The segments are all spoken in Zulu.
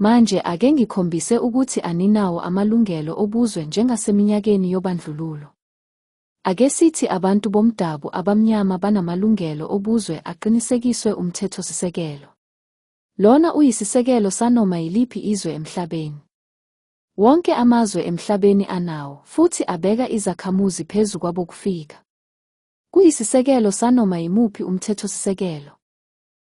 Manje ake ngikhombise ukuthi aninawo amalungelo obuzwe njengaseminyakeni yobandlululo. Ake sithi abantu bomdabu abamnyama banamalungelo obuzwe aqinisekiswe umthethosisekelo. Lona uyisisekelo sanoma yiliphi izwe emhlabeni. Wonke amazwe emhlabeni anawo futhi abeka izakhamuzi phezu kwabokufika. Kuyisisekelo sanoma yimuphi umthethosisekelo.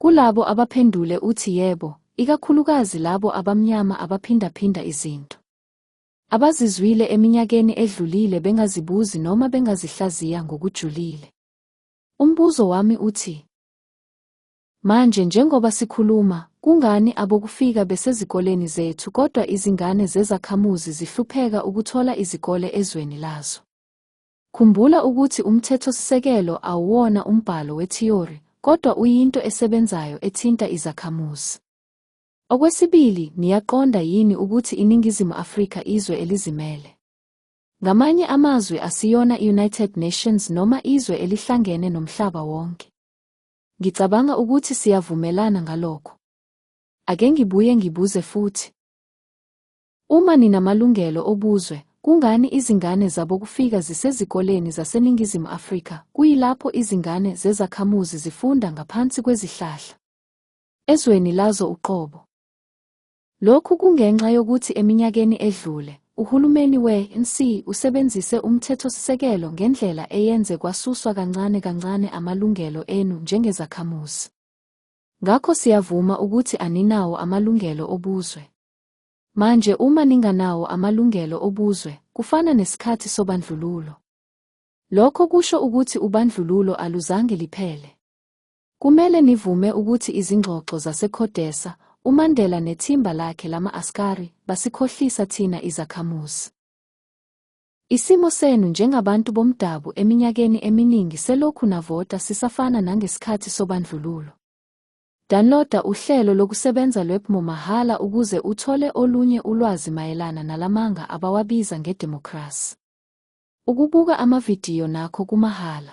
Kulabo abaphendule uthi yebo, ikakhulukazi labo abamnyama abaphindaphinda izinto abazizwile eminyakeni edlulile bengazibuzi noma bengazihlaziya ngokujulile. Umbuzo wami uthi, Manje njengoba sikhuluma, kungani abokufika besezikoleni zethu kodwa izingane zezakhamuzi zihlupheka ukuthola izikole ezweni lazo? Khumbula ukuthi umthethosisekelo awuwona umbhalo wethiyori kodwa uyinto esebenzayo ethinta izakhamuzi. Okwesibili, niyaqonda yini ukuthi iNingizimu Afrika izwe elizimele? Ngamanye amazwi asiyona i-United Nations noma izwe elihlangene nomhlaba wonke. Ngicabanga ukuthi siyavumelana ngalokho. Ake ngibuye ngibuze futhi. Uma ninamalungelo obuzwe, kungani izingane zabokufika zisezikoleni zaseNingizimu Afrika kuyilapho izingane zezakhamuzi zifunda ngaphansi kwezihlahla ezweni lazo uqobo? Lokhu kungenxa yokuthi eminyakeni edlule, uhulumeni we-ANC usebenzise umthethosisekelo ngendlela eyenze kwasuswa kancane kancane amalungelo enu njengezakhamuzi. Ngakho siyavuma ukuthi aninawo amalungelo obuzwe. Manje uma ninganawo amalungelo obuzwe, kufana nesikhathi sobandlululo. Lokho kusho ukuthi ubandlululo aluzange liphele. Kumele nivume ukuthi izingxoxo zaseCodesa, uMandela nethimba lakhe lama-askari, basikhohlisa thina izakhamuzi. Isimo senu njengabantu bomdabu eminyakeni eminingi selokhu navota sisafana nangesikhathi sobandlululo. Downloada uhlelo lokusebenza lwePMO mahhala ukuze uthole olunye ulwazi mayelana nalamanga abawabiza ngedemokhrasi. Ukubuka amavidiyo nakho kumahhala.